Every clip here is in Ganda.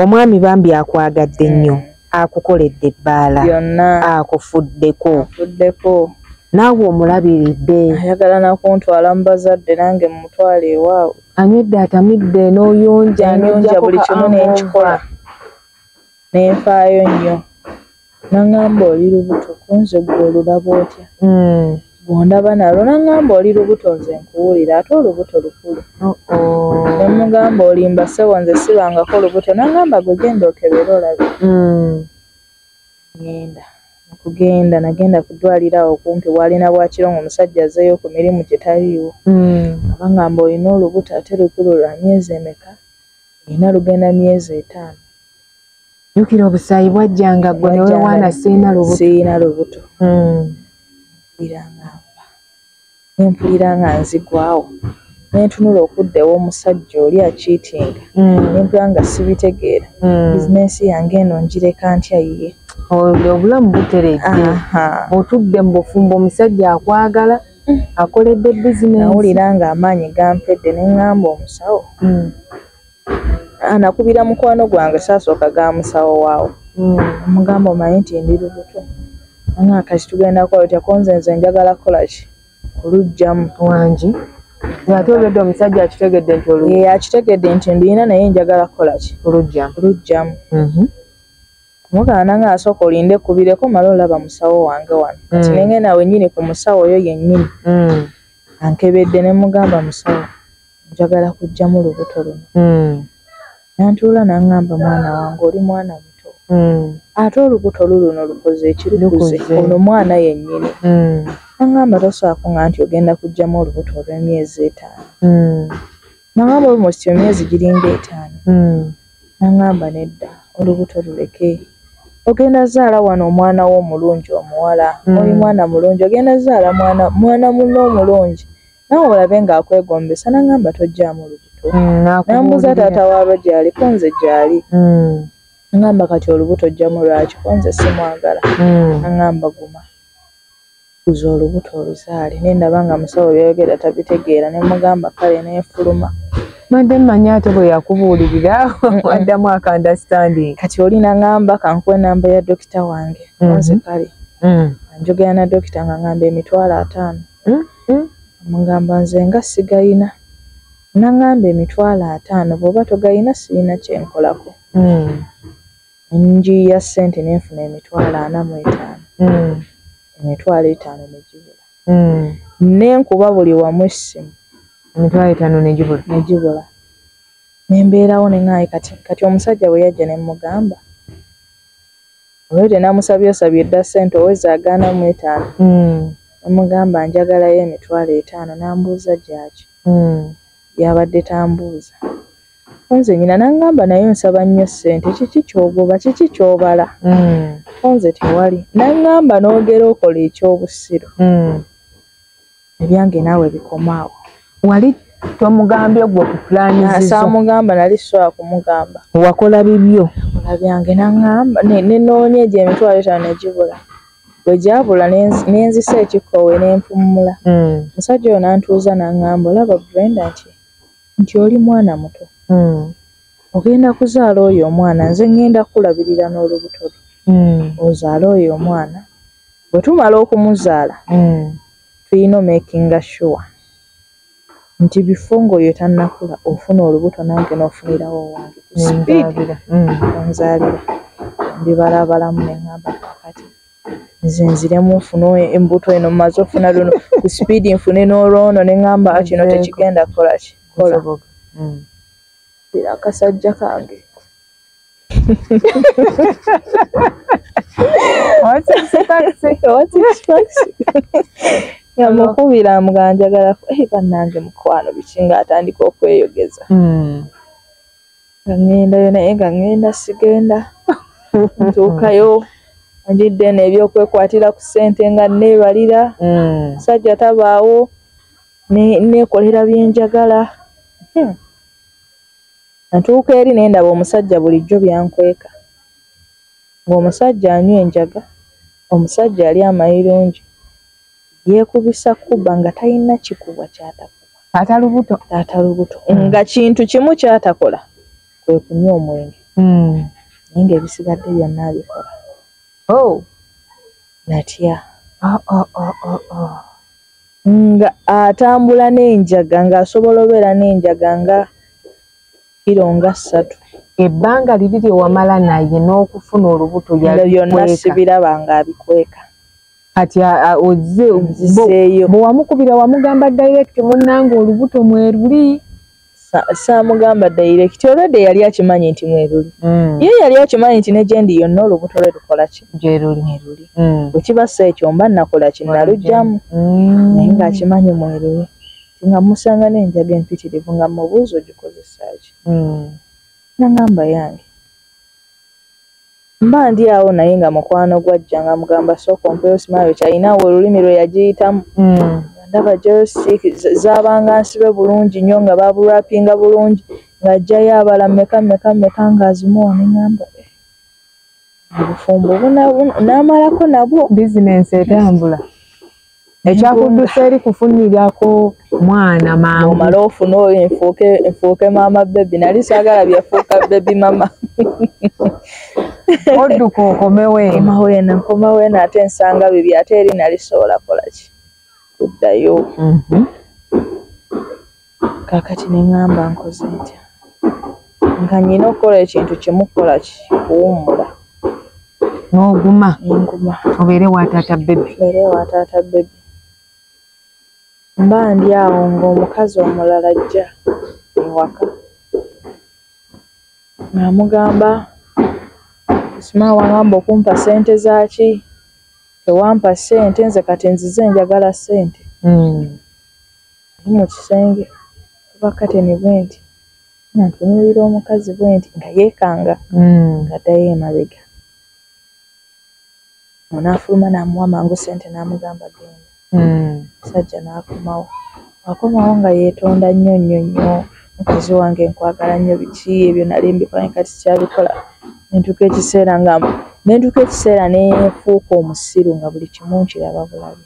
omwami bambi akwagadde nnyo mm. akukoledde ebbaala akufuddeko naawe omulabiridde ayagala nakuntwala mu bazadde nange mumutwala ewaabwe anywedde atamidde n'oyonja nonja buli kimu nenkikola nenfaayo nnyo Nangamba oli lubuto kunze gwe olulaba otya mm. bwondaba nalo nangamba oli lubuto nze nkuwulira ate olubuto lukulu oh -oh. nemugamba olimba sebo nze sibangako lubuto nangamba gwe genda okebera olabe mm. ngenda okugenda nagenda kudwalira awo kumpi bwalina bwakiro nga omusajja azeeyo ku mirimu gye taliiwo mm. abangamba olina olubuto ate lukulu lwa myezi emeka olina lugenda myezi etaano jukira obusaayi bwajjanga gwe newewaana siina lubuto siina lubuto hmm. iranga mba nempulira nga nzigwawo nentunula okudda ewomusajja oli akiitinga hmm. nempulira nga sibitegeera hmm. bizinensi yange eno njireka ntya yiye obulamu buteredde otudde mu bufumbo omusajja akwagala akoledde bizinensi nawulira nga amaanyi gampedde nengamba omusawo anakubira mukwano gwange saasooka ga musawo waawo hmm. omugamba omanyi nti ndi lubuto anga kati tugenda kukola otya konze nze njagala kukola ki olujjamu wangi ate olwedde omusajja akitegedde nti olu ye akitegedde nti nduyina naye njagala kukola ki olujjamu olujjamu mhm. mugana nga asooka olinde kubireko mala olaba musawo wange wano hmm. kati nengenda wenyini ku musawo oyo yennyini hmm. ankebedde ne mugamba musawo njagala kujjamu lubuto luno mm. nantuula nangamba mwana wange oli mwana muto mm. ate olubuto luluno lukoze ekirukuze ono mwana yennyini mm. nangamba toswaako nga nti ogenda kujjamu olubuto olw'emyezi etaano mm. nangamba almost emyezi giringa etaano mm. nangamba nedda olubuto luleke ogenda zaala wano omwana wo omulungi omuwala mm. oli mwana mulungi ogenda zaala mwana mwana muno omulungi nawe olabe nga akwegombesa nangamba tojjaamu lubuto mm, nambuza taata waalwo gyali kunze gyali mm. ngamba kati olubuto ojjamu lwaki kunze simwagala mm. angamba guma kuza olubuto oluzaale naye ndaba nga musawo byayogera tabitegeera ne mugamba kale nefuluma mande mmanyi ate bwe yakubuulirira addamu akandastanding kati oli nangamba kankuwa enamba ya dokita wange mm-hmm. nze kale mm. njogera na dokita nga ngamba emitwalo ataano mm. Hum omugamba nze nga sigayina nangamba emitwalo atano bwoba togayina siyina kyenkolako. Hum nenjiiya sente nenfuna emitwalo ana mu etano hum emitwalo etano nejibula hum nenkuba buli wamu essimu emitwalo etano nejibula nejibula nembeerawo nengaye kati kati omusajja bweyajja nemugamba Olwete namusabye osabye dda ssente oweza agaana mu etaano mm. namugamba njagalayo emitwalo etaano nambuuza gyaki mm. yabadde tambuuza onze nyina nangamba naye nsaba nnyo ssente kiki kyogoba kiki kyobala mm. onze tewali nangamba nogera okola ekyobusiru ebyange naawe bikomaawo wali tomugambye gwe okuplanisamugamba nali sobola kumugamba wakola bibyo ola byange naŋamba nenoonya egyo emitwalo etano negibula bwe gyabula nenzisa ekikkowe nenfummula hmm. musajja oyo nantuuza naŋamba olaba brenda nti nti oli mwana muto hmm. ogenda kuzaala oyo omwana nze ŋŋenda kukulabirira n'olubuto lwo hmm. ozaale oyo omwana bwe tumala okumuzaala mm. tulina omakinga sure nti bifo ngaoyo tannakula ofuna olubuto nange n'ofunirawo owange ku sipiidi mm. onzaalira mbibalabalamu ne ŋamba kakati nze nziremu nfune embuto eno mumaze ofuna luno ku sipiidi nfune n'olwono ne ŋamba kino tekigenda kukola kikola mm. era akasajja kange yamukubira muganjagala eh, banange mukwano biki nga atandika okweyogeza hmm. ngaŋendayo naye nga ŋenda sigenda ntuukayo njidde eno ebyokwekwatira ku ssente nga neebalira hmm. sajja tabaawo neekolera byenjagala hmm. Natuuka eri ne ndaba omusajja bulijjo by'ankweka, ng'omusajja anywa enjaga, omusajja alya amayirungi, yeekubisa kubba nga talina kikubwa ky'atakuba. Ata lubuto. Ata lubuto. Nga kintu kimu ky'atakola kwe kunywa omwenge. Naye ng'ebisigadde byonna abikola. Hoo! Natya. Oh, oh, oh, oh, oh. nga atambula n'enjaga ng'asobola obeera n'enjaga nga kiro nga ssatu ebbanga liri lye wamala naye n'okufuna olubuto yalibyonna sibiraba ng'abikweka kati ozze bwe wamukubira wamugamba direct munnanga olubuto mweruli saamugamba direct olwedde yali akimanyi nti mweruli mm. ye yali akimanyi nti negyendi yonna olubuto lwe lukola ki gyeruli mweruli mm. bwekiba si ekyo mba nakola ki nalugyamu mm. naye ngaakimanyi mweruli nga musanga nenjaga empitirivu nga mubuuza ogikozesaki nagamba yange Mba ndi awo naye nga mukwano gwajja nga mugamba sooka ompeyo simayo kyalina awo olulimi lwe yagiyitamu mm. ndaba josik zabanga nsibe bulungi nnyo nga babulwapinga bulungi ng'ajjayo abala meka meka meka ng'azimuwa neŋamba eh, obufumbo bunamalako nabwo bizinensi etambula ekyakudduse eri kufunyirako mwana maama omala ofuna oyo enfuuke enfuuke maama bebi nali saagala byafuuka bebi mama odduka okomewo enkomawo eno enkomawo eno ate nsanga bibi ate eri nali sobola kolaki kuddayo mhm. kakati neŋamba nkoze ntya nga nyina okukola ekintu kimu kukola ki kuwummula n'oguma nguma obeere wa taata bebi obeere wa taata bebi mba ndi awo ng'omukazi omulala ajja ewaka ng'amugamba sima wagamba okumpa sente zaki tewampa sente nze kati nzize njagala sente hmm. Ndi mu kisenge kuba kateni bwenti nga ntunuulira omukazi bwenti nga yeekanga hmm. ng'addayo emabega. Ono afuluma n'amuwa mangu ssente n'amugamba genda. Hmm. Omusajja n'akomawo. Akomawo nga yeetonda nnyo nnyo nnyo mukazi wange nkwagala nnyo biki ebyo nali mbikola ne kati sikyabikola. Ne ntuuka ekiseera nga ne ntuuka ekiseera ne nfuuka omusiru nga buli kimu nkiraba bulabi.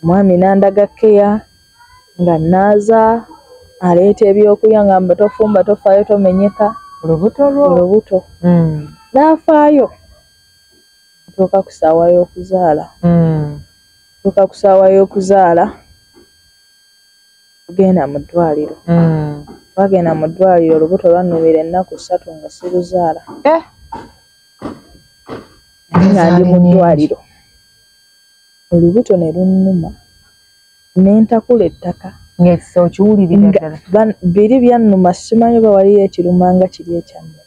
Omwami n'andaga kkeya nga nnaaza, aleeta ebyokulya ng'amba tofumba, tofaayo, tomenyeka olubuto. N'afaayo okutuuka ku ssaawa y'okuzaala. Okutuuka ku ssaawa y'okuzaala tugenda mu ddwaaliro. Twagenda mu ddwaaliro olubuto lwannumira ennaku ssatu nga siruzaala. Naye nga ndi mu ddwaaliro. olubuto ne lunnuma ne ntakula ettaka biri byannuma simanyi oba waliyo ekiruma nga kiri ekyannuma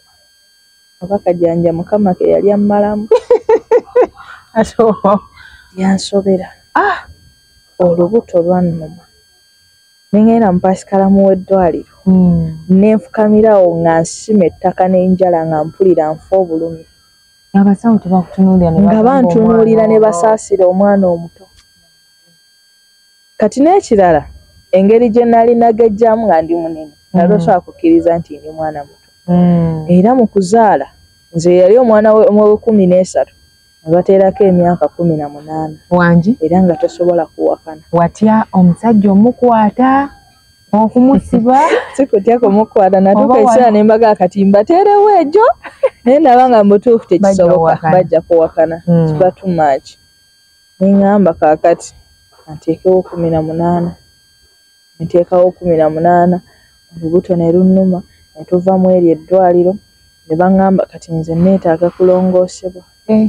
oba kajanja mukama ke yali ammalamu yansobera ah! olubuto lwannuma nengenda mupasikalamu w'eddwaliro hmm. nenfukamirawo nga nsima ettaka n'enjala nga mpulira nfa obulumi abasawo tebakutunuulira nga bantunuulira ne basaasira omwana omuto kati n'ekirala engeri gye nali nagejjamu nga ndi munene nali mm. osobola kukkiriza nti ndi mwana muto mm. era mu kuzaala nze yali omwana wekumi n'esatu abateerako emyaka kumi na munaana wangi era nga tosobola kuwakana watya omusajja omukwata okumusiba sikutya kumukwata natuka ekiseera ne mbaga akatimba teerewo egyo naye naba nga mubutuufu tekisoboka bajja kuwakana hmm. kiba too much neŋamba kakati anteekewo kumi na munaana nteekawo kumi na munaana olubuto ne lunnuma ne tuva mu eryo eddwaliro ne baŋŋamba kati nze nneetaaga kulongoosebwa eh.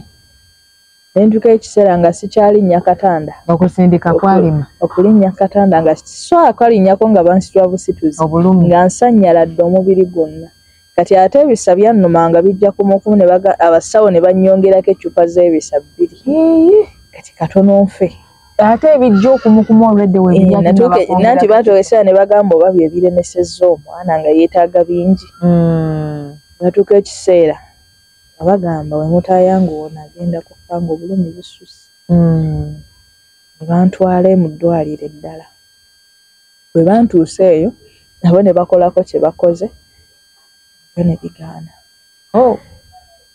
nentuka ekiseera nga sikyalinnya katanda okusindika kwalima okulinnya katanda nga so akalinnyako nga bansitwa busituzi obulumi nga nsanyala dde omubiri gwonna kati ate ebisa byannuma nga bijja kumukumu abasawo ne bannyongerako eccupa z'ebisa bbiri kati katono nfe ate ebijja okumukumu olwedde webiyananti eh, batuka ekiseera ne bagamba oba bye biremesezza omwana nga yeetaaga bingi hmm. batuka ekiseera nga bagamba bwe mutaayanguwa ono agenda kufa ng'obulumi bususse ne bantwala e mu ddwaaliro eddala. Bwe bantuusa eyo nabo ne bakolako kye bakoze nabyo ne bigaana. Oh.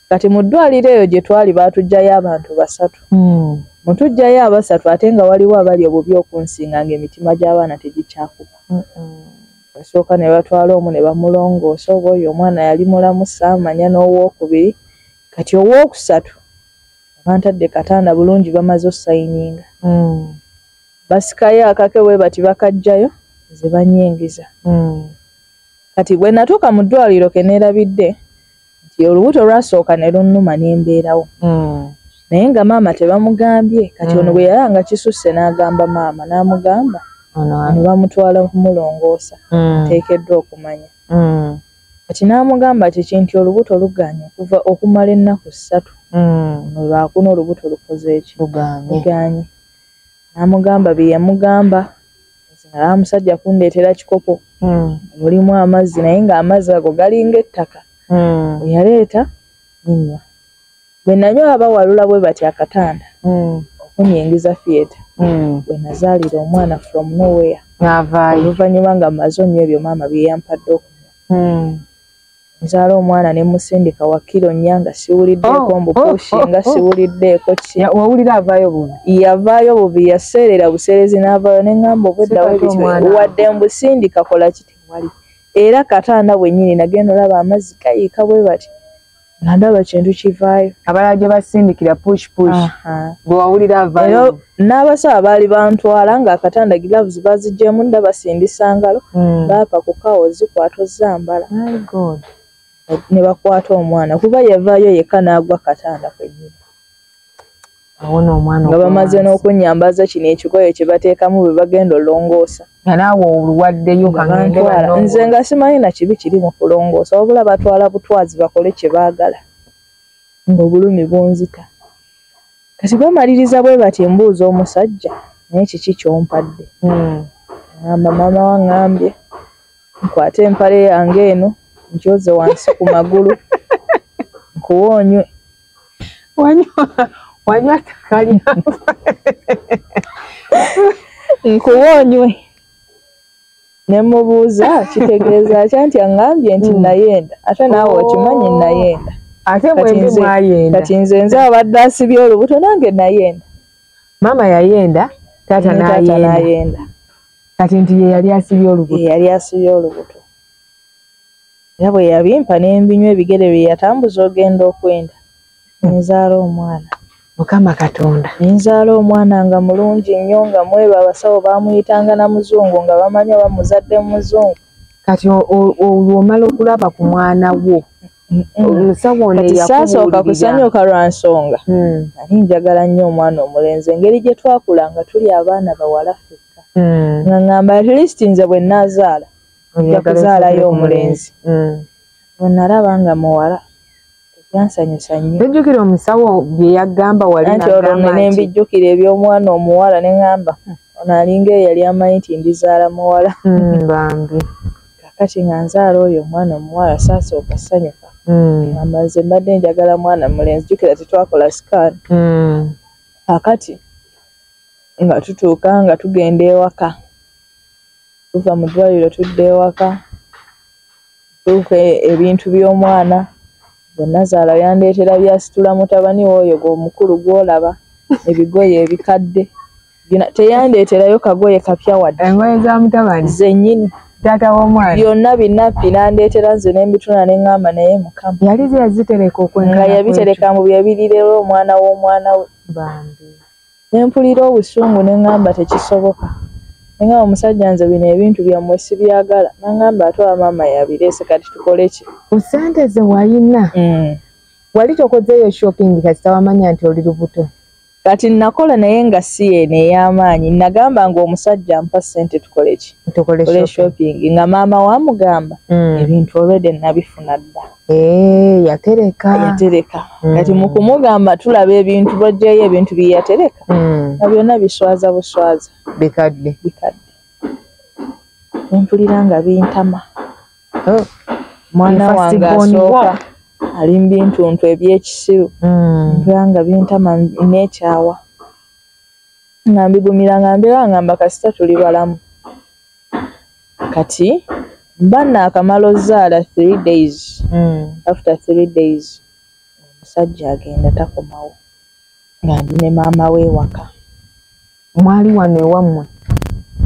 Kati mu ddwaaliro eyo gye twali baatuggyayo abantu basatu. Mu tuggyayo abasatu ate nga waliwo abali obubi okunsinga ng'emitima gy'abaana tegikyakuba. Basooka ne batwala omu ne bamulongoosa oba oyo omwana yali mulamu saamanya n'owookubiri kati owookusatu bantadde katanda bulungi bamaze osayininga hmm. basikayo akake bwe bati bakajjayo nze banyingiza hmm. kati bwe natuuka mu ddwaliro ke neerabidde nti olubuto lwasooka ne lunnuma ne mbeerawo mm. naye nga maama tebamugambye kati ono mm. bwe yala nga kisusse n'agamba maama n'amugamba ne bamutwala kumulongoosa mm. teekeddwa okumanya kati n'amugamba ti kinti olubuto luganye okuva okumala ennaku ssatu no lwakuna olubuto lukoze eki luganye n'amugamba bye yamugamba nzala musajja kundetera kikopo mm. mulimu amazzi naye nga amazzi ago galinga ettaka mm. yaleeta ninywa bwe nanyo abawalula bwe bati akatanda mm. okunyingiza fieta mm. bwe nazaalira omwana from nowhere navaayo oluvannyuma nga maze onywa ebyo maama byeyampadde okunywa mm. nzaala omwana ne musindika wakiro nnya nga siwuliddeeko oh, mbupushi oh, oh, nga siwuliddeeko ki wawulira avaayo bubi yavaayo bubi yaseerera buseerezi n'avaayo ne ŋŋamba obweddawo wadde mbusindika kola kiti wali era katanda bwennyini nagenda olaba amazzi gayiika bwe bati nga ndaba kintu kivaayo abala gye basindikira push push bwe wawulira avaayo n'abasawo baali bantwala ng'akatanda gilavuzi bazigyemu nda basindisa ngalo hmm. baapa ku kawo zikwata ozambala ne bakwata omwana kuba yavaayo yekka n'agwa katanda kwenyini nga bamaze n'okunyambaza kino ekigoyo kye bateekamu bwe bagenda olongoosa nze nga simanyi na kibi kiri mu kulongoosa wabula batwala butwazi bakole kye baagala ng'obulumi bunzita kati bamaliriza bwe bati mbuuza omusajja naye kiki kyompadde hmm. amba maama wangambye nkwate empale yange eno nkyoze wansi ku magulu nkuwa onywe wanywa takalya nkuwa onywe ne mubuuza kitegeeza ki anti aŋŋambye nti hmm. nayenda ate naawe okimanyi oh. nayenda ate mwembi mwayenda kati nze nze abadde asibye olubuto nange nayenda maama yayenda taata nayenda kati nti ye yali asibye olubuto yali asibye olubuto era bwe yabimpa n'embinywa ebigere bye yatambuza ogenda okwenda nenzaala omwana mukama katonda nenzaala omwana nga mulungi nnyo nga mweba abasawo bamuyitanga na muzungu nga bamanyi oba muzadde muzungu kati olwomala okulaba ku mwana wo omusawoneyasasooka kusanyuka lwa nsonga hmm. nali njagala nnyo omwana omulenzi engeri gye twakula nga tuli abaana bawala fekka hmm. nga ngamba atleast nze bwe naazaala nja kuzaalayo omulenzi hmm. bwe nalaba nga muwala byansanyusa nnyo tojjukira omusawo bye yagamba wali nti olwo nne ne mbijjukira eby'omwana omuwala ne ŋŋamba hmm, ono alinga eyo yali amanyi nti ndizaala muwala hmm, bambi kakati nga nzaala oyo omwana omuwala saasooka sanyuka hmm. amba nze mbadde njagala mwana mulenzi jjukira tetwakola sikaani kakati nga tutuuka nga tugenda ewaka tuva mu ddwaliro tudda ewaka Luke ebintu by'omwana gwe nazaala yandeetera by'asitula mutabani we oyo gw'omukulu gw'olaba ebigoye ebikadde teyandeeterayo kagoye kapya wadde engoye za mutabani zennyini taata w'omwana byonna binappi n'andeetera nze ne mbituna ne ŋŋamba naye mukama yali ze yazitereka okwenga yabitereka mu bye birirera omwana w'omwana we bambi ne mpulira obusungu ne ŋŋamba tekisoboka naye nga omusajja nze bino ebintu byammwe sibyagala naŋŋamba ate oba maama yabireese kati tukole ki ku ssente ze walina mm. wali tokozeeyo shopping kasita wamanya nti oli lubuto kati nakola naye nga si eno ey'amaanyi nagamba nga omusajja mpa ssente tukole ki tukole shopping nga maama wamugamba mm. ebintu olwede nabifuna dda Eh, yatereka yatereka mm. kati mu kumugamba tulaba ebintu bojjayo ebintu bye yatereka mm. nga byonna biswaza buswaza bikadde bikadde empulira nga bintama oh. mwana wange asooka ali mu bintuntu ebyekisiru mm. mpulira nga bintama nekyawa nga mbigumira nga mbeera ngamba kasita tuli balamu kati bana akamala ozaala three days mm. after three days omusajja agenda takomawo nga ndi ne maama we ewaka mwali wano ewammwe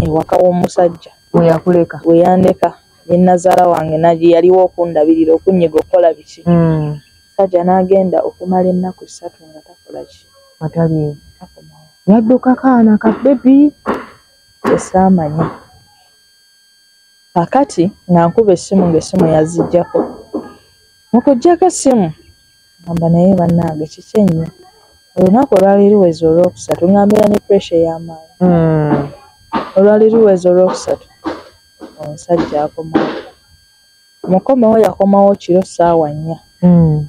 ewaka w'omusajja weyakuleka weyandeka nenazaala wange nagi yaliwo okundabirira okunyiga okukola biki mm. sajja n'agenda okumala ennaku ssatu nga takolaki ataliiwo yaddukako ana ka bebi kyesaamanya kakati nga nkuba essimu ng'essimu yazijjako mu kujjako essimu ngamba naye bannange kiki ennyo olunaku olwali luwezi olwokusatu nga mbeera ne puresha ey'amaanyi hmm. olwali luwezi olwokusatu omusajja akomawo mukomewo yakomawo kiro ssaawa nnya hmm.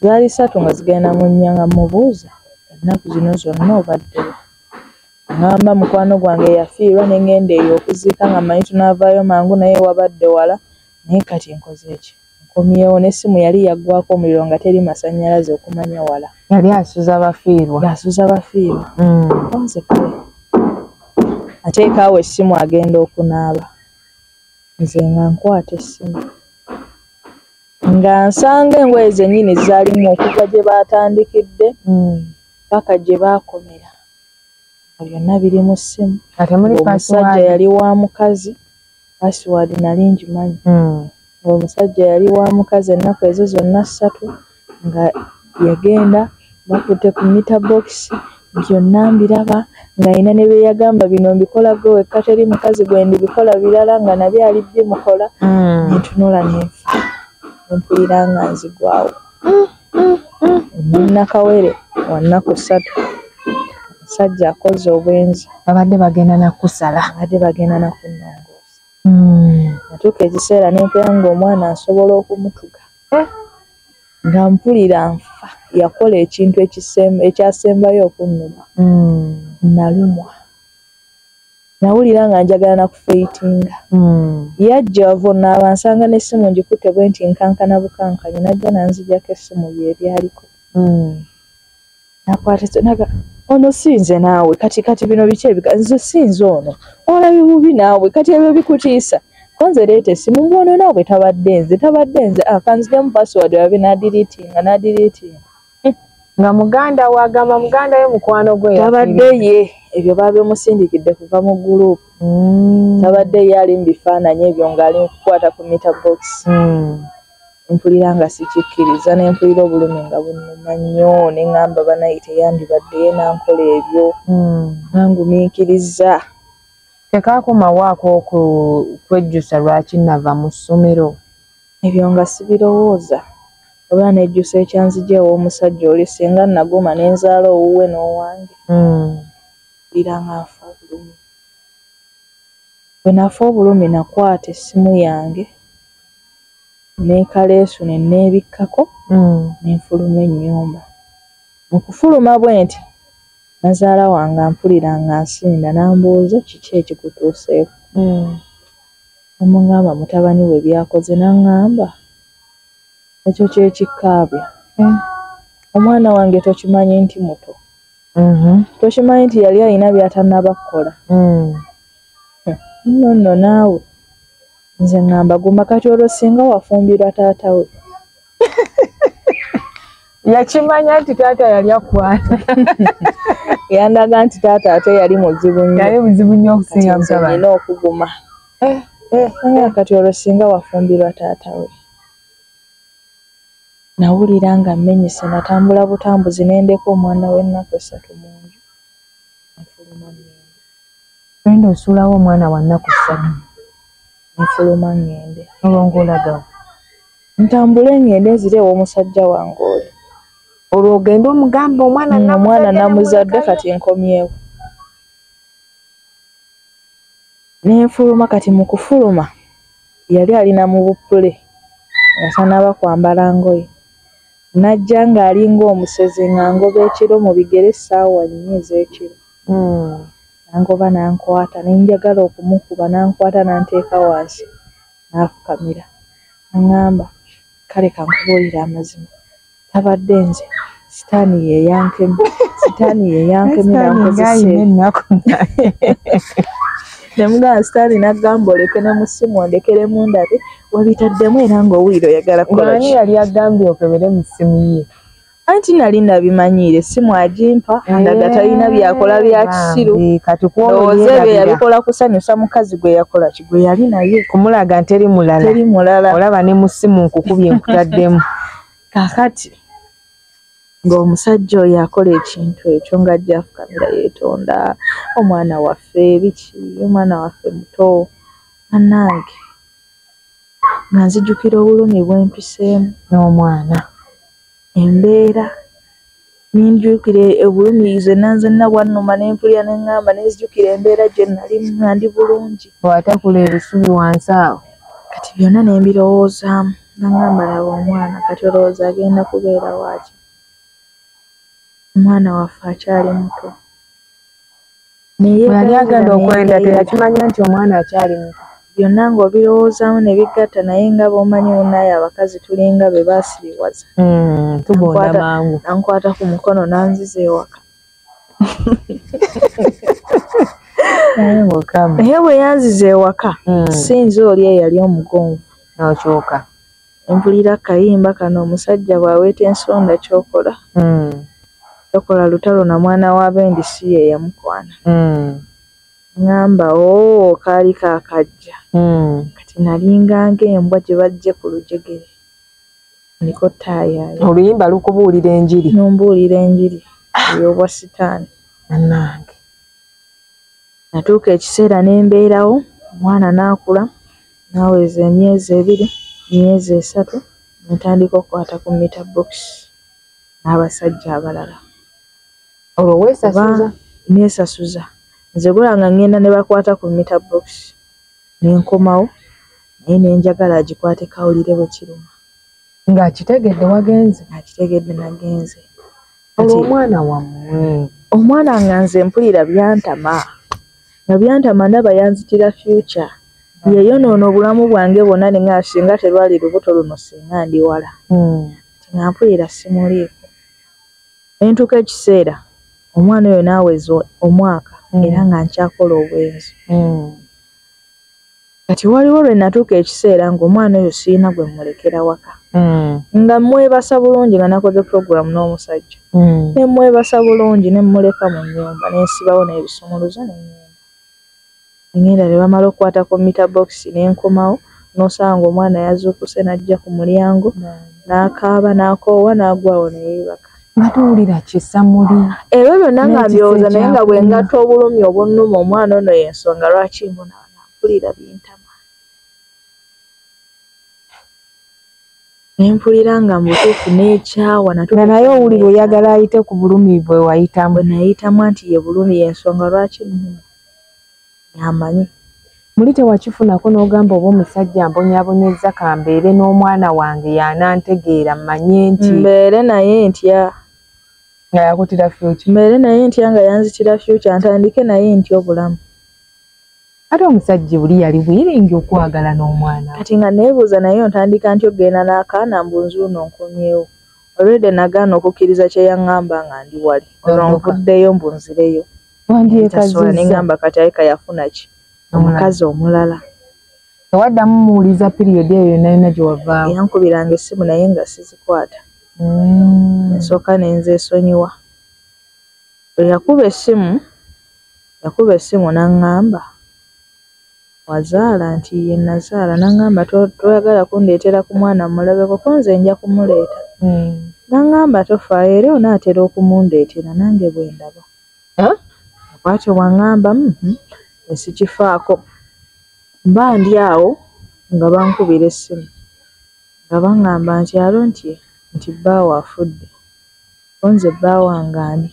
zaali satu nga zigenda mu nnya nga mubuuza ennaku zino zonna obaddewo Ng'amba mukwano gwange eyafiirwa ne ng'enda eyo okuziika nga mmanyi tunaavaayo mangu naye wabadde wala naye kati nkoze ki? Nkomyewo. N'essimu yali yaggwaako omuliro nga teri masannyalaze okumanya wala. Yali asuza bafiirwa. Ng'asuza bafiirwa. Nze kale ateeka awo essimu agenda okunaaba nze nga nkwata essimu nga nsanga engoye zennyini zaalimu okuva gye baatandikidde paka gye baakomera. byonna biri mu ssimu omusajja yali wa mukazi password nali ngimanyi hmm. omusajja yali wa mukazi ennaku ezo zonna ssatu nga yagenda bakutte ku mita bokisi byonna mbiraba ng'alina ne bye yagamba bino mbikola gwe wekka teri mukazi gwe ndibikola birala nga nabyo ali bimukola hmm. nentunula nenfa nempulira nga nzigwawo hmm. nakawere wanaku satu sajja akoze obwenzi babadde bagenda nakusala babadde bagenda nakunongoosa hmm. natuuka ekiseera nempera nga omwana nsobola okumutuga eh? nga mpulira nfa yakola ekintu ekyasembayo okunnuma hmm. nalumwa nawulira nga njagala nakufeitinga hmm. yajja wava onaaba nsanga n'essimu ngikutte bwe nti nkankana bukankanya najja nanzijako essimu ye ebyaliko hmm. nakwataga ono sinze naawe kati kati bino biki ebika nze sinze ono olabi bubi naawe kati ebyo bikutiisa konze leeta essimu mbwono naawe tabadde nze tabadde nze akanzigemu ah, password wabe nadiritinga nadiritinga nga muganda we agamba muganda we mukwano gwe tabadde ye ebyo babimusindikidde kuva mu group mm. tabadde ye ali mu bifaananyi ebyo ng'ali mukukwata ku mita box mm. mpulira nga sikikkiriza ne mpulira obulumi nga bunuma nnyo ne ŋŋamba banaye teyandibadde ye nankola ebyo mm. nangumiikiriza tekaakomawaako okwejjusa lwaki nava mu ssomero Ebyo nga sibirowooza, wabula nejjusa ekyanzigya ew'omusajja oli singa nnaguma ne nzaala owuwe n'owange. Mpulira nga nfa obulumi. Bwe nafa obulumi nakwata essimu yange ne kaleesu ne nneebikkako ne nfuluma ennyumba. Mu kufuluma bwenti nazaala wange ampulira ng'ansinda n'ambuuza kiki ekikutuuseeko. Namungamba mutabani we byakoze nangamba ekyo kyekikkaabya omwana wange tokimanyi nti muto mm-hmm. tokimanyi nti yali alina byatanaba kukola mm. no no naawe nze ngamba guma kati olwo singa wafumbirwa taata we yakimanya nti taata yali akwana yandaga nti taata ate yali muzibu nnyali muzibu nnyo okusinga mutabani okuguma eh, eh, eh, kati olwo singa wafumbirwa taata we nawulira nga mmenyese natambula butambuzi nendeka omwana w'ennaku essatu mu nju nfuluma enda osuulawo omwana wa nnaku ssatu nfuluma ŋŋende olwo ng'olagawo ntambule ngende nzire ewomusajja wange oli olwo ogende omugamba omwana mm, omwana namuzadde kati nkomyewo nenfuluma kati mukufuluma yali alina mu bupule nga tanaba kwambala ngoye najja ng'alinga omusezi nga ngoba ekiro mu bigere essaawa nnya ez'ekiro hmm. nangoba nankwata nenjagala okumukuba nankwata nanteeka wansi n'afukamira n'aŋŋamba, Kale ka nkubuulire amazima, tabadde nze, sitaani ye yankemye, sitaani ye yankemye n'ankozesa ebyo. Ne mugamba sitaani n'aggamba oleke ne mu ssimu ondekeremu ndabe wabitaddemu era ng'owulira oyagala kukola ki. Ng'ani yali agambye okebere mu ssimu ye? anti nali nabimanyiire simu agimpa andaga eh, talina byakola bya kisiru ndowooza ebyo yabikola kusanyusa mukazi gwe yakola ki gwe yali naye kumulaga nteri mulala teri mulala olaba ne mu simu nkukubye nkutaddemu kakati ng'omusajja oyo akola ekintu ekyo nga ajja afukamira yeetonda omwana waffe biki omwana waffe muto anange nga nzijukira obulumi bwempiseemu n'omwana embeera ninjukira obulumi zenna nzenna bwannuma ne mpulira ne ŋŋamba ne nzijukira embeera gye nnalimu nga ndi bulungi. Bw'atakula ebisubi wansi awo. Kati byonna ne mbirowoozaamu nga ŋŋamba laba omwana kati olowooza agenda kubeera waaki? Omwana waffe akyali muto. yali agenda okwenda teyakimanya nti omwana akyali muto byonna ng'obirowoozamu ne bigatta naye nga bw'omanyi munnaaye abakazi tulinga be baasiriwaza hmm, tugonda mangu ankwata ku mukono n'anziza ewaka naye bwe yanziza ewaka hmm. sinza oli eyali omugonvu n'okyoka Mpulira akayimba kano omusajja bwaweta ensonda kyokola tokola lutalo na mwana wa bendi si yeyamukwana ngamba ooh kaali kakajja kati nalinga nga embwa gyebajje ku lujegere ndiko taayaaya. Oluyimba lukubuulira enjiri. Numbuulira enjiri ey'obwa sitaani. Bannange. Natuuka ekiseera ne mbeerawo omwana n'akula Naweza emyezi ebiri, emyezi esatu ne ntandika okukwata ku mita bokisi n'abasajja abalala. Olwo weesasuza? Neesasuza. Nze gwolanga ng'enda ne bakwata ku mita bokisi ne nkomawo naye ne njagala agikwate kawulire bwe kiruma. Ng'akitegedde wagenze? Ng'akitegedde nagenze. Olwo omwana wammwe? Omwana nga nze mpulira byantama. nga byantama ndaba yanzitira future yeyonoona obulamu bwange bwonna ne nga singa terwali lubuto luno singa ndi wala hmm. ti nga mpulira simuliiko ne ntuuka ekiseera omwana oyo naaweza omwaka hmm. era nga nkyakola obwenzi hmm. Kati waliwo lwe natuuka ekiseera ng'omwana oyo sirina gwe mmulekera waka. Mm. Nga mmwebasa bulungi nga nakoze pulogulaamu n'omusajja. Mm. Ne mmwebasa bulungi ne mmuleka mu nnyumba ne nsibawo n'ebisumuluzo ne nnyumba. Ngenda ne bamala okukwata ku mita bokisi ne nkomawo n'osanga omwana yazuukuse n'ajja ku mulyango n'akaaba n'akoowa n'agwawo ne yeebaka. Nga tuwulira kisa muli. Ebyo byonna nga mbyowoza naye nga bwe ngatta obulumi obunnuma omwana ono y'ensonga lwaki mbona. nga mpulira bintama nempulira nga mubutuufu nekyawa nga naye owulira oyagala ayite ku bulumi bwe wayitamu nayitamu nti ye bulumi yensonga lwaki amanyi muli tewakifunako n'ogamba oba omusajja mbonyabonyezza kambeere n'omwana wange yanantegeera mmanye nti mbeere naye ntya nga yakutira fyuki mbeere naye ntya nga yanzitira fyuki ntandike naye ntya obulamu ate omusajja oli yali wiringi okwagala n'omwana kati nga neebuuza naye ontandika nti okugenda n'akaana mbu nzuuno nkomyewo olwedde nagaana okukkiriza kye yaŋŋamba nga ndi wali olwo nvuddeyo mbu nzireyo wandyekasola ne ŋŋamba kati ayika yafuna ki omukazi omulala tewaddamu muwuliza piriyodi eyo yonna yonna gye wavaawo yankubiranga essimu naye nga sizikwata mm. ensooka ne nzeesonyiwa eyakuba essimu Yakuba essimu n'aŋŋamba, Wazaala? Nti, Yee, nnazaala. N'aŋŋamba, Toyagala kundeetera ku mwana mmulabeko? Ko nze nja kumuleeta. N'aŋŋamba, Tofaayo, era onaatera okumundeetera, nange bwe ndaba. Bw'atyo bw'aŋŋamba. Hum, nze sikifaako. Mba ndi awo, nga bankubira essimu, nga baŋŋamba nti, Aaron, nti, nti bbaawo afudde. Ko nze, Bba wange ani?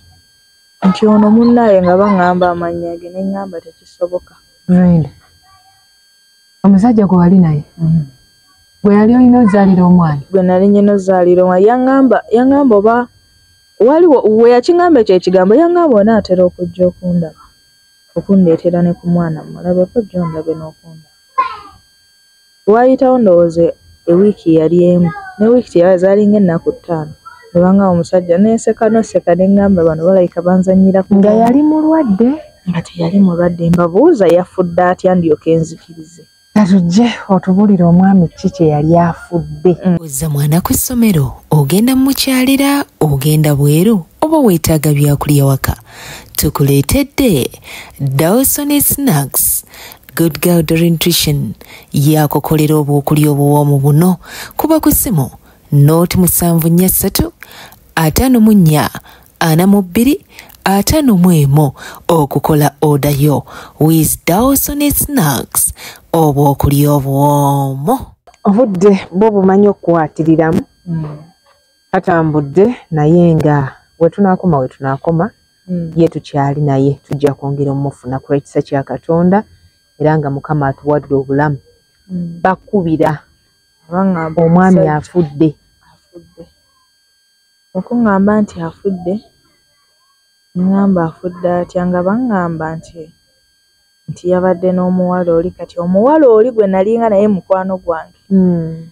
Nti ono munnaye nga bangamba amannya ge ne ngamba tekisoboka. Brenda, omusajja gwe wali naye mm. gwe yali olina ozaalira omwana? Gwe nali nyina ozaalira omwana yangamba yangamba oba waliwo we yakingamba ekyo ekigambo yangamba onaatera okujja okundaba okundeetera ne ku mwana mulabe kojja ondabe n'okundaba. Waayitawo ndowooza ewiiki yali emu ne wiiki teyabula zaalinga ennaku ttaano ne bang'amba omusajja ne nseka n'oseka ne ng'amba bano balabika banzannyira ku bwongo. Nga yali mulwadde? Nga teyali mulwadde. Mbabuuza yafudde atya ndyoke nzikirize. Ka tujje otubulire omwami ki kye yali afudde. Ozza mwana ku ssomero, ogenda mu mukyalira, ogenda bweru oba weetaaga byakulya waka? Tukuleetedde Dawson Snacks good girl drentrition yakukolera obwokulya obuwoomu buno kuba ku ssimu nooti musanvu nnya ssatu ataano mu nnya ana mu bbiri ataano mu emu okukola oda yo wis dawsone snacks obwokulya obuwoomu obudde bwo bumanyi okukwatiriramu mm. katambudde naye nga wetunakoma wetunakoma hmm. ye tukyali naye tujja kwongera omufuna ku lwekisa kya katonda era nga mukama atuwadde obulamu hmm. bakubira omwami afudde okuŋŋamba nti afudde ŋŋamba afudde atya nga baŋŋamba nti nti yabadde n'omuwala oli kati omuwala oli gwe nalinga naye mukwano gwange hmm.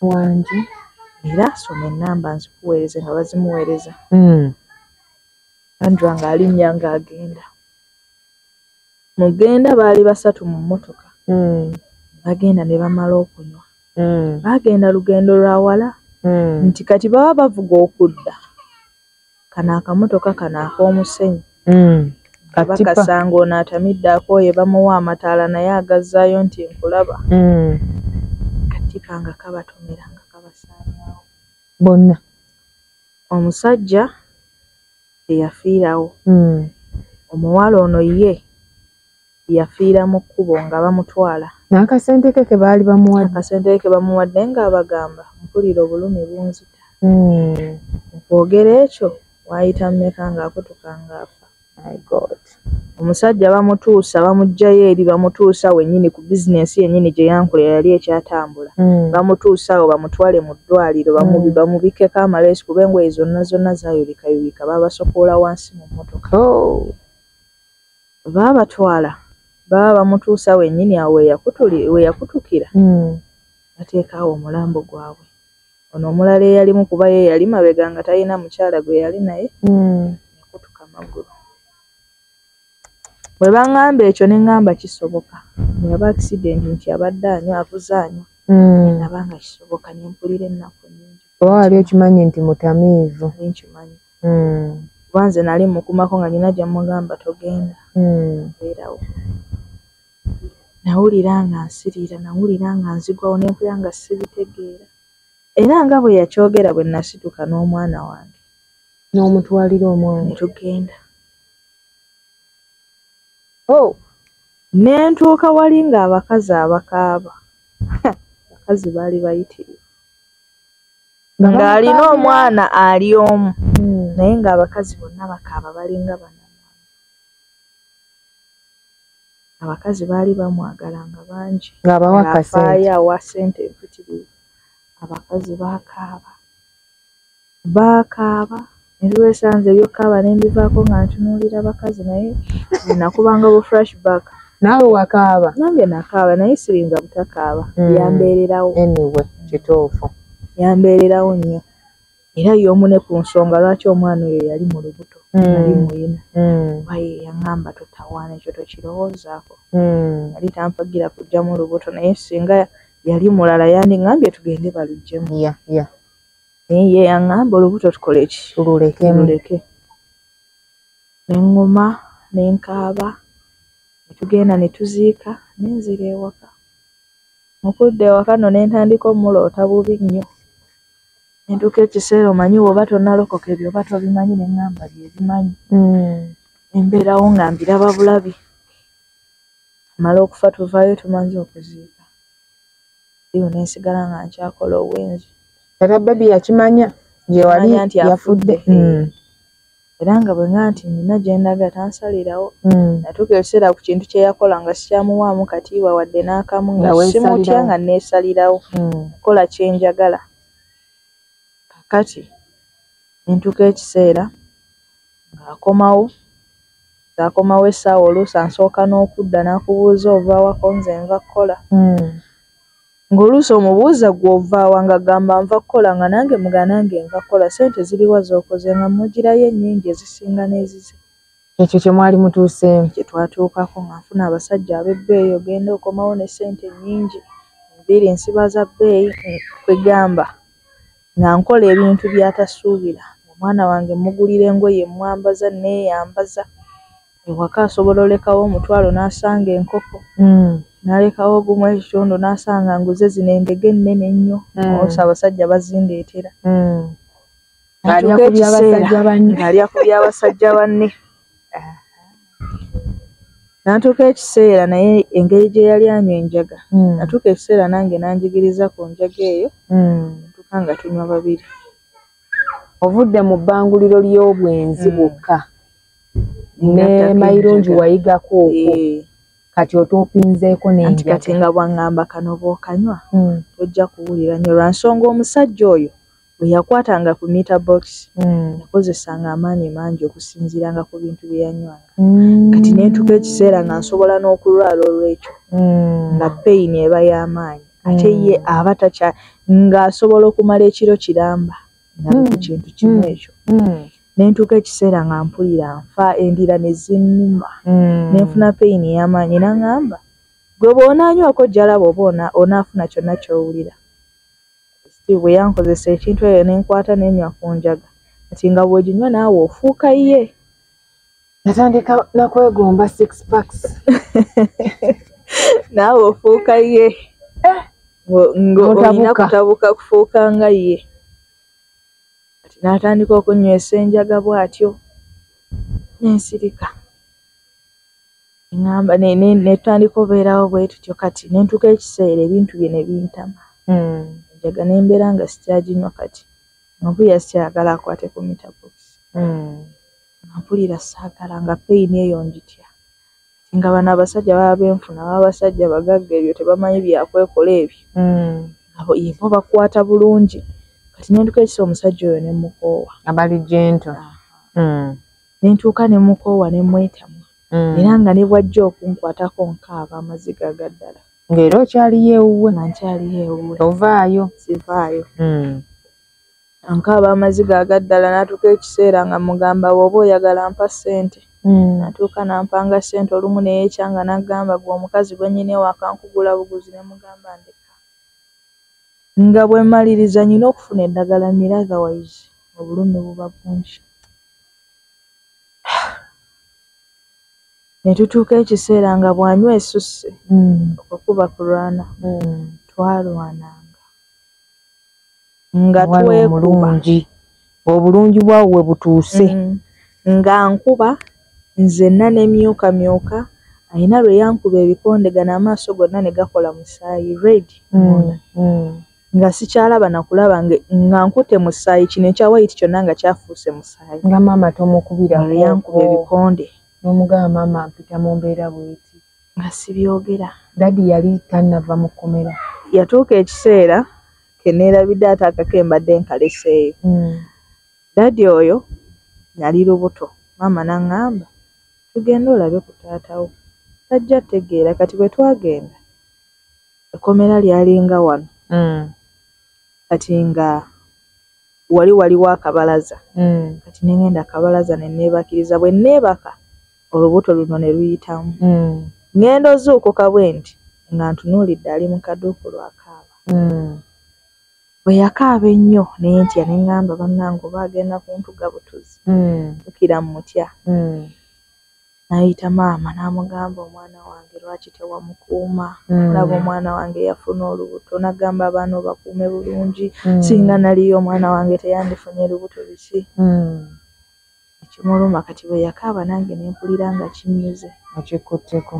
wangi era soma enamba nzikuweereze nga bazimuweereza hmm. andra nga alinnya nga agenda mugenda baali basatu mu mmotoka hmm. bagenda ne bamala okunywa hmm. bagenda lugendo lwa wala nti kati baba bavuga okudda kano akamotoka kano ak'omusenyu mm. abakasanga ono atamidde akooye bamuwa amataala naye agazzaayo nti nkulaba mm. katipa nga kabatomera nga kabasaanyawo bonna omusajja eyafiirawo mm. omuwala ono ye yafiira mu kkubo nga bamutwala. N'akasente ke ke baali bamuwadde. Akasente ke ke bamuwadde ng'abagamba mpulira obulumi bunzita. Mu kwogera ekyo waayita mmeka ng'akutuka ng'afa. My God. Omusajja bamutuusa bamuggyayo eri bamutuusa wennyini ku bizinensi yennyini gye yankolera yali ekyatambula. Bamutuusa awo bamutwale mu ddwaaliro bamubikkeko amaleesu kuba engoye zonna zonna zaayulikayulika baabasokoola wansi mu mmotoka. baabatwala baba bamutuusa wenyini awo weyakutukira hmm. bateeka awo omulambo gwabwe ono omulala eyalimu kuba ye yali mabega nga talina mukyala gwe yali naye hmm. yakutuka magulu bwe baŋŋamba ekyo ne ŋŋamba kisoboka bweyaba akisidenti nti abadde anywa avuze anywa hmm. naba nga kisoboka ne mpulira ennaku nyingi oba wali okimanyi nti mutamiivu nkimanyi mm. kuba nze nali mukumako nga nina gyemugamba togenda mm. beerawo nawulira nga nsiriira nawulira nga nzigwawo nempulira nga sibitegeera era nga bwe yakyogera bwe nasituka n'omwana wange n'omutwalira omwana netugenda o oh. nentuuka wali ng'abakazi abakaaba abakazi baali bayitirivu ng'alina omwana ali omu hmm. naye ng'abakazi bonna bakaaba balinga bana abakazi baali bamwagala nga bangi ng'abawakafaayo awa sente empitirivu abakazi bakaaba bakaaba Nebiwesanze ebyokaaba nembivaako nga ntunuulira bakazi naye nakubanga bu fresh back. Naawe wakaaba? Nange nakaaba naye siyinza butakaaba mm. yambeererawo. Anyway kituufu. Yambeererawo nnyo era y'omu ne ku nsonga lwaki omwana oyo yali mu lubuto mm. yali muyina mm. kuba ye yaŋŋamba totawaana ekyo tokirowoozaako mm. yali tampagira kujjamu lubuto naye singa yali mulala yandiŋambye tugende baluggyemu ye yaŋŋamba olubuto tukole ki tululeke luleke ne ŋŋuma ne nkaaba ne tugenda ne tuziika ne nzira ewaka mu kudda ewaka nno ne ntandika omuloota bubi nnyo ne ntuuka ekiseera omanyi bw'oba tonnalokoka ebyo oba tobimanyi ne ŋŋamba bye bimanyi hmm. ne mbeerawo nga mbiraba bulabi mala okufa tuvaayo tumanze okuziika eyo ne nsigala nga nkyakola obwenzi era bebi yakimanya gyewali yafudde mm. era nga bwenga nti nina gyendaga tansalirawo mm. natuuka ekiseera ku kintu kyeyakola nga sikyamuwaamu katiibwa wadde n'akamu nga simutya nga neesalirawo mm. kola kyenjagala kakati nentuuka ekiseera ng'akomawo akomawo essaawa oluusi ansooka n'okudda n'akubuuza ovawako nze nva kukola hmm. Ng'oluusi omubuuza ggwe ovaawa ng'agamba nva kukola nga nange muga nange nva kukola ssente ziriwa z'okoze nga mmugirayo ennyingi ezisinga n'ezize. Ekyo kye mwali mutuuseemu. Kye twatuukako nga nfuna abasajja ab'ebbeeyi ogenda okomawo ne ssente nnyingi, enviiri nsiba za bbeeyi kwegamba nga nkola ebintu by'atasuubira ng'omwana wange mmugulira engoye mmwambaza nneeyambaza. ewaka asobola olekawo omutwalo nasanga enkoko mm. nalekawo ogumu ekitundu nasanga nguze zino endege ennene ennyo mm. osa abasajja bazindeetera mm. alya ku byabasajja banne natuuka ekiseera naye engeri gye yali anywa enjaga mm. natuuka ekiseera nange nanjigiriza ku njaga eyo mm. tuka nga tunywa babiri ovudde mu bbanguliro ly'obwenzi mm. bwokka mm. ne mayirungi wayigako okwo eh. kati otopinzeeko nenanti kati nga bwaŋŋamba kano bwokanywa hmm. tojja kuwulira nyo lwa nsonga omusajja oyo bwe yakwatanga ku mita box hmm. yakozesanga amaanyi mangi okusinziiranga ku bintu bye yanywanga hmm. kati nentuka ekiseera nga nsobola n'okulwala olw'ekyo nga peyini eba y'amaanyi ate ye aba takya ng'asobola okumala ekiro kiramba nali ku mm. kintu kimu mm. ekyo mm. nentuuka ekiseera nga mpulira nfa endira nezinuma nenfuna peyini eyamaanyi naŋamba gwe bwonaanywako jalaba oba onaafuna kyonna kyowulira steve bwe yankozesa ekintu eyo nenkwata nenywa ku njaga nti nga bweginywa naawe ofuuka ye natandika nakwegomba six packs naawe ofuuka ye eh. ng'olina kutabuka kufuuka nga ye kati n'atandika okunywesa enjaga bw'atyo nensirika eŋamba netandika obeerawo bwe tutyo kati nentuka ekiseera ebintu bye ne bintama hmm. enjaga ne mbeera nga sikyaginywa kati nobuya sikyayagala akwate ku mitabox hmm. Nga mpulira saagala nga pain eyo njitya kati nga bano abasajja baba benfuna baba basajja bagagga ebyo tebamanyi byakwekola ebyo abo ye bo bakwata bulungi kati nentuka ekisa omusajja oyo nemukoowa abali gentle mm. nentuuka nemukoowa nemwetamwa mm. era nga nebwajja okunkwatako nkaaba amaziga agaddala ngaera okyaliyo ewuwe nga nkyaliyo ewuwe ovaayo sivaayo mm. Ankaaba amaziga aga ddala n'atuuka ekiseera nga mmugamba bw'oba oyagala mpa ssente. Natuuka n'ampanga ssente olumu ne yeecanga n'aggamba ggwe omukazi gwe nnina ewaka nkugula buguzi ne mmugamba ndeka nga bwe mmaliriza nnina okufuna eddagala mmire otherwise obulumi buba bungi. Ne tutuuka ekiseera nga bw'anywa esusse okwo kuba kulwana. Twalwananga. nga twemulungi obulungi bwawo we butuuse mm. nga nkuba nzenna nemyuka myuka alina lwe yankuba ebikondegana amaaso gonna ne gakola musaayi red mm, mm. nga sikyalaba nakulaba nga nkute musaayi kino ekya wayiti kyonna nga kyafuuse musaayi nga maama tomukubira lwe yankuba ebikonde nomugaba maama mpita mu mbeera bweti nga sibyogera dadi yali tannava mu kkomera yatuuka ekiseera keneerabidde ate akake mbadde nkaleseeyo hmm. dadi oyo nali lubuto maama naŋŋamba tugende olabe ku taatawo tajja tegeera kati bwe twagenda ekkomera lyalinga wano hmm. kati nga wali waliwo akabalaza hmm. kati nengenda akabalaza ne neebakiriza bwe neebaka olubuto luno ne luyitamu mm. ngenda ozuukuka bwe nti nga ntunuulidde ali mu kaduuku lwakaaba mm. bwe yakaaba ennyo naye ntya ne ŋŋamba bannange oba agenda kuntuga butuzi mm. ukira mu mutya mm. nayita maama n'amugamba omwana wange lwaki tewamukuuma mm. olaba omwana wange yafuna olubuto nagamba abaana obakuume bulungi mm. singa naliyo omwana wange teyandifunye lubuto biki mm. ekimuluma kati bwe yakaaba nange ne mpulira nga kinnyuze nga kikkutteko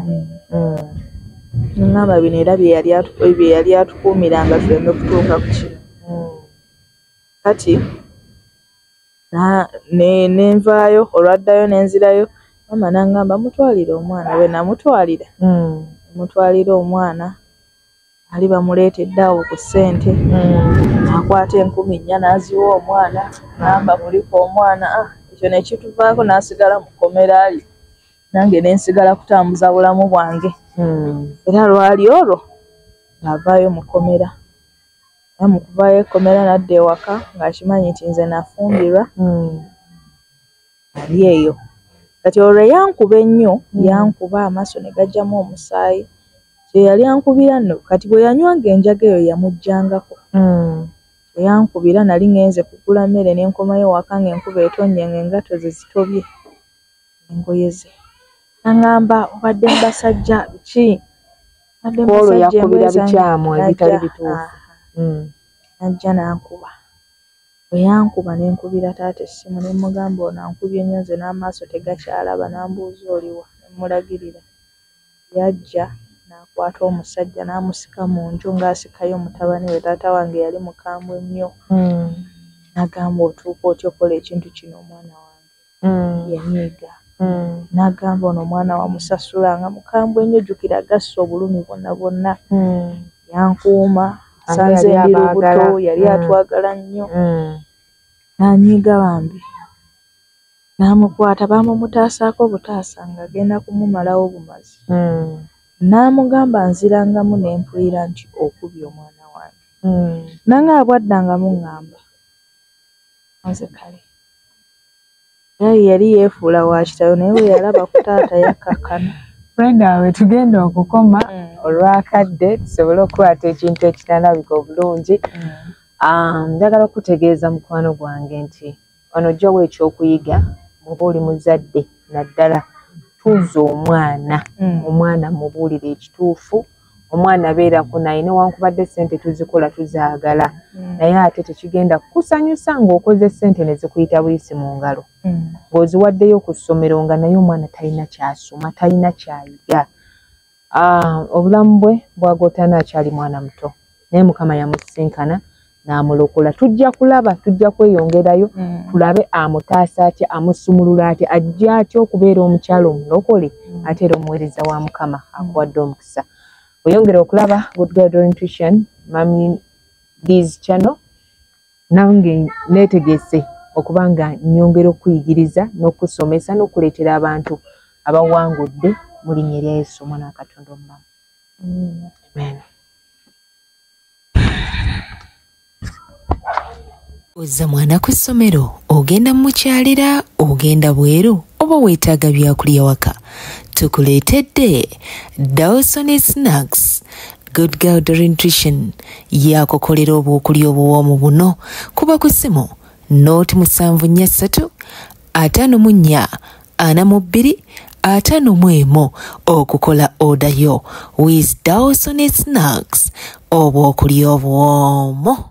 ŋŋamba bino era bye yali bye yali atukuumira nga tuleme kutuuka ku kino kati ne nvaayo olwaddayo ne nzirayo maama n'aŋŋamba mutwalire omwana bwe namutwalira mutwalira omwana ali bamuleetedde awo ku ssente hmm. akwata enkumi nnya n'aziwa omwana namba mulika omwana ah, ekyo ne kituvaako n'asigala mu kkomera ali nange ne nsigala kutambuza bulamu bwange hmm. era lwali olwo ng'avaayo mu kkomera era mu kuvaayo ekkomera nadda ewaka ng'akimanyi nti nze nafumbirwa hmm. ali eyo kati olwo eyankuba ennyo mm. yankuba amaaso ne gajjamu omusaayi kyeyali ankubira no kati bwe yanywanga enjaga eyo yamujjangako mm. eyankubira nali ngenze kugula mmere ne nkomayo waka nga enkuba etonnye nga engato ze zitobye engoye ze naŋŋamba obadde mu basajja biki olwo yakubira bikyamu ebitali bituufu mm. najja nankuba Bwe yankuba ne nkubira taata essimu ne mmugamba ono ankubye nnyo nze n'amaaso tegakyalaba n'ambuuza oli wa ne mmulagirira. Yajja n'akwata omusajja n'amusika mu nju ng'asikayo mutabani we. Taata wange yali mukambwe nnyo n'agamba otuuka otya okukola ekintu kino omwana wange? mm. yanyiiga mm. n'agamba ono omwana wamusasula nga mukambwe ennyo jjukira agassa obulumi bwonna bwonna mm. yankuuma sanze ndi lubuto yali mm. atwagala nnyo mm. n'anyiiga bambi n'amukwata baamumutaasaako obutaasa ng'agenda kumumalawo bumazi mm. n'amugamba nzirangamu ne mpulira nti okubye omwana wange mm. nange abwaddangamu ŋŋamba nze kale Naye yali yefuula wa kitalo naye bwe yalaba ku taata yakkakkana. Friend awe tugenda okukoma mm. olwakadde tusobole okukwata ekintu ekinalabika obulungi. Mm. Um, njagala okutegeeza mukwano gwange nti wano ojjawo ekyokuyiga muba oli muzadde naddala tuuza omwana mm. omwana mubuulire ekituufu. omwana beerako naye newankubadde sente tuzikola tuzaagala mm. naye ate tekigenda kusanyusa ng'okoze sente ne zikuyita buyisi mu ngalo mm. ng'oziwaddeyo ku ssomero nga naye omwana talina kyasoma talina kyayiga ah, obulamu bwe bwagotaana akyali mwana muto naye mukama yamusisinkana n'amulokola tujja kulaba tujja kweyongerayo mm. tulabe amutaasa atya amusumulula atya ajja atya okubeera omukyalo omulokole mm. ate era omuweereza wa mukama mm. akuwadde omukisa oyongera okulaba goodgdorientution mami dis channel nange neetegese okuba nga nyongera okuyigiriza n'okusomesa n'okuleetera abantu abawangudde mu linnya erya yesu omwana wa katonda omulamu amen ozza mwana ku ssomero ogenda mukyalira ogenda bweru oba weetaaga byakulya waka tukuleetedde dawson snacks good girl dorinutrition yakukolera obwokulya obuwoomu buno kuba ku ssimu nooti musanvu nnya ssatu ataano mu nnya ana mu bbiri ataano mu emu okukola oda yo with dawson snacks obwokulya obwomu